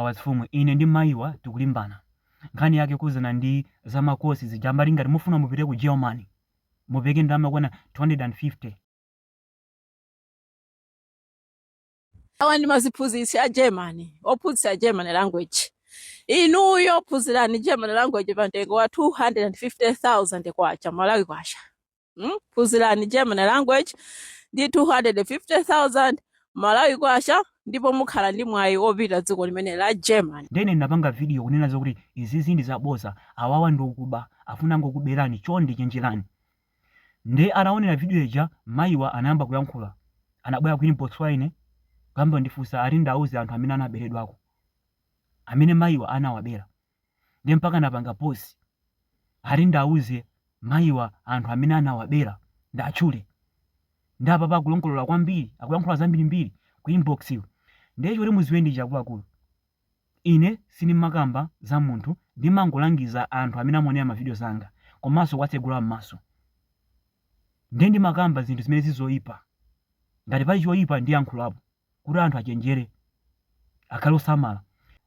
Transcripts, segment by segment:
wazimfumu ine ndi mayiwa tikulimbana nkhani yake kukhuzana ndi za ma course zija amati ngati mufuna mupite ku Germany mupereke ndalama yokwana 250 awa ndi maziphunzitsi a germany ophunzitsa germany language inuyo phunzirani germany language pa mtengo wa 250000 kwacha malawi kwacha mm? phunzirani germany language ndi 250000 malawi kwacha ndipo mukhala ndi mwayi opita dziko limene la germany ndene ndinapanga vidiyo kunena zokuti izizi ndi zaboza awawa ndi okuba afuna angokuberani chonde chenjerani nde ataonera vidiyo ija mayiwa anayamba kuyankhula anabwera ku inbox kwa ine kuyamba kundifunsa ati ndiwauze anthu amene anaberedwako amene mayiwa anawabera ndiye mpaka anapanga post ati ndiwauze mayiwa anthu amene anawabera ndiwatchule ndi apapa akulongolola kwambiri akulankhula zambirimbiri ku inbox iyo ndiye choti muziwe ndi choti akuluakulu ine sindimakamba za munthu ndimangolangiza anthu amene amaonera mavidiyo zanga komanso kuwatsegula m'maso ndiye ndimakamba zinthu zimene zili zoyipa ngati pali choyipa ndiyankhulapo kuti anthu achenjere, akhale osamala.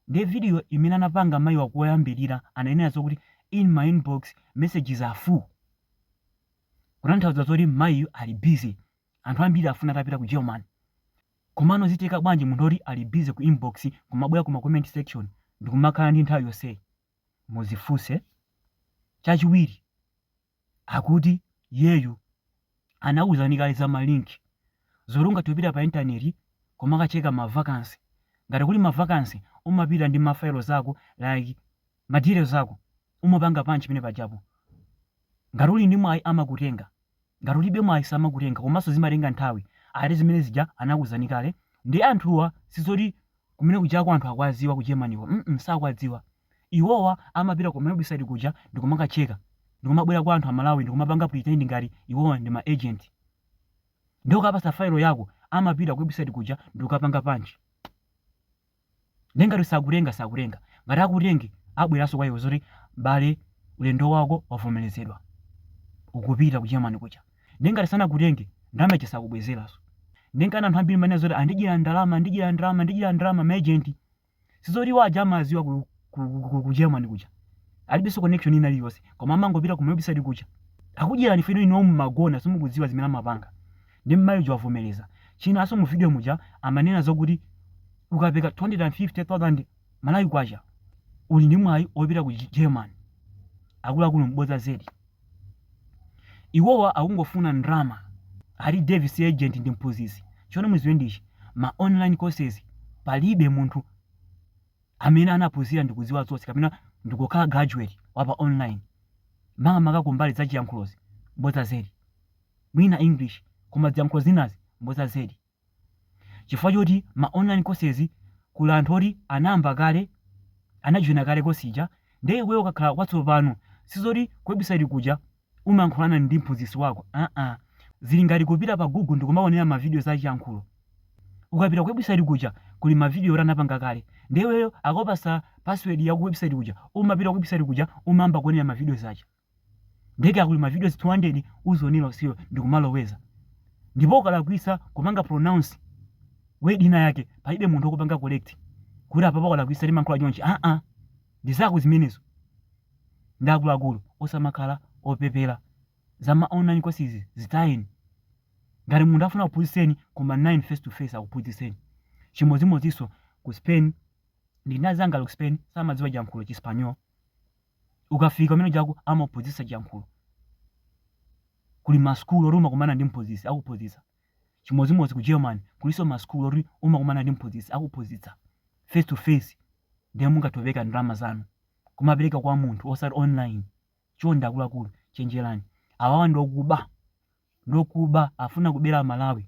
Ndiye video imene anapanga mayiwa koyambirira anainena zokuti in my inbox messages are full. Kutanthauza zoti mayiyu ali busy. Anthu ambiri afuna atapita ku German. Komano zitheka bwanji munthu oti ali busy ku inbox kumabwera ku ma comment section ndikumakhala ndi nthawi yonseyi? Muzifunse. Chachiwiri. akuti iyeyu anakuuzani kale za ma link zoti ungathe kupita pa intaneti kumakacheka ma vacancy ngati kuli ma vacancy umapita ndi ma files ako like ma details ako umapanga punch pamenepajapo ngati uli ndi mwayi amakutenga ngati ulibe mwayi samakutenga komanso zimatenga nthawi ati zimene zija anakuuzani kale ndi anthuwa sizoti kumenekujako anthu akuwaziwa ku germanyko mm sakuwadziwa Iwowa amapita ku ma website kuja ndikumakacheka ndikumabwera kwa anthu a Malawi ndikumapanga pretend ngati iwowa ndi ma agent nde ukawapatsa file yako amapita ku website kuja ndikukapanga punch nde ngati sakutenga sakutenga ngati akutenge abweranso kwa iwe zoti m'bale ulendo wako wavomerezedwa ukupita ku Germany kuja nde ngati sanakutenge ndalama ija sakubwezeranso nde nchana anthu ambiri amanena zoti andidyera ndalama andidyera ndalama andidyera ndalama ma agent Sizoti iwo aja amaziwa ku, ku, ku, ku, ku Germany kuja. Alibenso connection ina iliyonse. Koma amangopita ku website kuja. Akudyerani phone inuyo mmangogona simukudziwa zimene amapanga. Nde mmayi uja wavomereza. Chinanso mu video muja amanena zokuti ukapereka 250,000 Malawi kwacha uli ndi mwayi opita ku Germany. Akuluakulu m'bodza zedi. iwowa akungofuna ndrama ati Davie si agent ndi mphunzitsi chomwe muziwe ndi ichi ma online courses palibe munthu amene anaphunzira ndikudziwa zonse kapena ndikukhala graduate wa pa online makamaka kumbali za chiyankhulozi mbodza zedi mwina English koma ziyankhulo zinazi mbodza zedi. Chifukwa choti ma online courses kuli anthu oti anayamba kale, anajoina kale course ija, ndiye iweyo ukakhala watsopano, sizoti ku website kuja umayankhulana ndi mphunzitsi wako aa, zili ngati kupita pa Google ndikumaonera ma videos a chiyankhulo. Ukapita ku website kuja kuli ma video oti anapanga kale, ndiye iweyo akakupatsa password ya ku website kuja, umapita ku website kuja umayamba kuonera ma videos aja. ndiye kaya kuli ma videos 200 uzionera iweyo ndikumaloweza ndipo ukalakwisa kupanga pronounce word ina yake palibe munthu okupanga correct kuti apapa walakwisa timankhula chonchi aa ndi zako zimenezo ndi akuluakulu osamakhala opepera za ma online courses zitayeni ngati munthu afuna kuphunzitseni kumanani naye face to face akuphunzitseni chimodzimodzinso ku spain ndili ndi anzanga ku spain samadziwa chiyankhulo chispanyol ukafika kumene kuja amaphunzitsa chiyankhulo. Kuli ma school oti umakumana ndi mphunzitsi akuphunzitsa. Chimodzimodzi ku Germany kulinso ma school oti umakumana ndi mphunzitsi akuphunzitsa face to face ndiye mungathe kupereka ndalama zanu. Kumapereka kwa munthu osati online. Chonde akuluakulu chenjerani. Awawa ndi okuba. Ndi okuba afuna kubera Amalawi.